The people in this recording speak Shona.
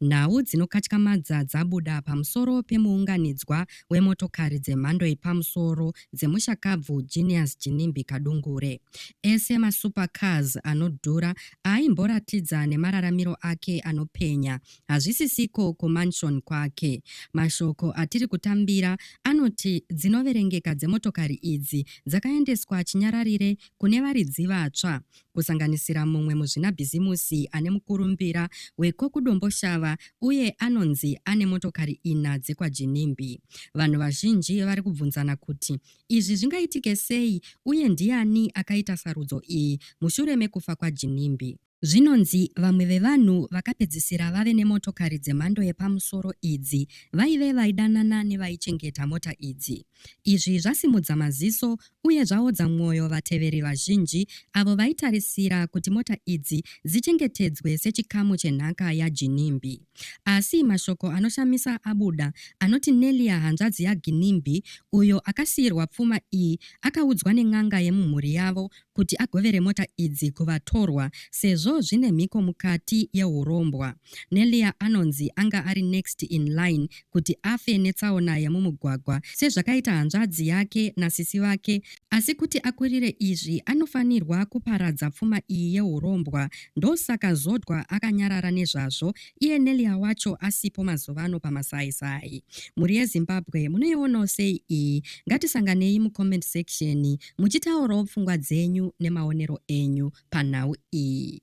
Nhau dzinokatyamadza dzabuda pamusoro pemuunganidzwa wemotokari dzemhando yepamusoro dzemushakabvu Genius Jinimbi Kadungure. Ese masupercars anodhura aaimboratidza nemararamiro ake anopenya hazvisisiko kumansion kwake. Mashoko atiri kutambira anoti dzinoverengeka dzemotokari idzi dzakaendeswa chinyararire kune varidzi vatsva kusanganisira mumwe muzvinabhizimusi ane mukurumbira weko kuDomboshava uye anonzi ane motokari ina dzekwaJinimbi. Vanhu vazhinji vari kubvunzana kuti izvi zvingaitike sei uye ndiani akaita sarudzo iyi mushure mekufa kwaJinimbi. Zvinonzi vamwe vevanhu vakapedzisira vave nemotokari dzemhando yepamusoro idzi vaive vaidanana nevaichengeta mota idzi. Izvi zvasimudza maziso uye zvaodza mwoyo vateveri vazhinji avo vaitarisira kuti mota idzi dzichengetedzwe sechikamu chenhaka yaGinimbi. Asi mashoko anoshamisa abuda anoti Nelia hanzvadzi yaGinimbi uyo akasiirwa pfuma iyi akaudzwa nen'anga yemumhuri yavo kuti agovere mota idzi kuvatorwa sezvo zvine mhiko mukati yeurombwa. Nelia anonzi anga ari next in line kuti afe netsaona yemumugwagwa sezvakaita hanzvadzi yake nasisi vake asi kuti akurire izvi anofanirwa kuparadza pfuma iyi yeurombwa ndosaka Zodwa akanyarara nezvazvo iye Nelia wacho asipo mazuvano pamasaisai. Mhuri yeZimbabwe munoionawo sei iyi? Ngatisanganei mucomment section muchitaurawo pfungwa dzenyu nemaonero enyu panhau iyi.